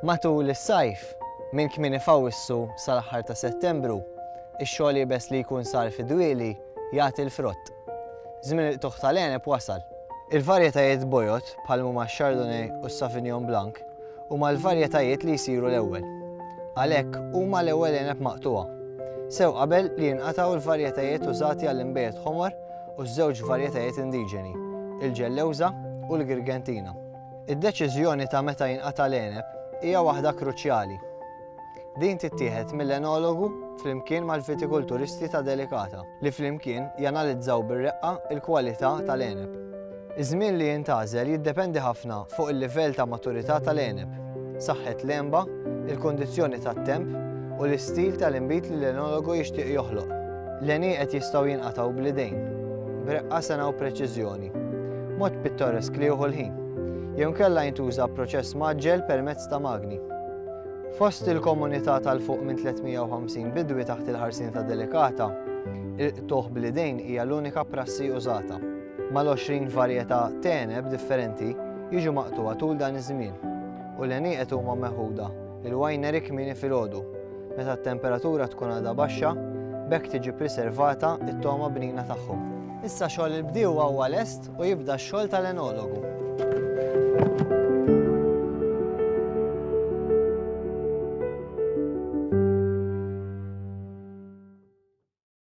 Matul is-sajf, minn kmieni f'Awwissu sal-aħħar ta' Settembru, ix-xogħol iebes li jkun sar fid-dwieli jagħti l-frott. Żmien il-qtugħ tal-għeneb wasal. Il-varjetajiet bojod, bħal mhuma x-Chardonnay u s-Sauvignon Blanc, huma l-varjetajiet li jsiru l-ewwel. Għalhekk, huma l-ewwel għeneb maqtugħa. Sew qabel li jinqatgħu l-varjetajiet użati għall-inbejjed ħomor u ż-żewġ varjetajiet indiġeni, il-Ġellewża u l-Girgentina. Id-deċiżjoni ta' meta jinqata' l-għeneb hija waħda kruċjali. Din tittieħed mill-enologu flimkien mal-vitikulturisti ta' Delicata, li flimkien janalizzaw bir-reqqa l-kwalità tal-għeneb. Iż-żmien li jintgħażel jiddependi ħafna fuq il-livell ta' maturità tal-għeneb, saħħet l-għenba, il-kundizzjoni tat-temp u l-istil tal-inbid li l-enologu jixtieq joħloq. L-għenieqed jistgħu jinqatgħu bl-idejn, b'reqqa sena u preċiżjoni, mod pittoresk li jieħu l-ħin, jew inkella jintuża proċess mgħaġġel permezz ta' magni. Fost il-komunità tal-fuq minn 350 bidwi taħt il-ħarsien ta' Delikata, il-qtugħ bl-idejn hija l-unika prassi użata. Mal-20 varjetà t'għeneb differenti jiġu maqtugħa tul dan iż-żmien u l-għenieqed huma meħuda l-winery kmieni filgħodu meta t-temperatura tkun għadha baxxa b'hekk tiġi priservata t-togħma bnina tagħhom. Issa xogħol il-bdiewa huwa lest u jibda x-xogħol tal-enologu.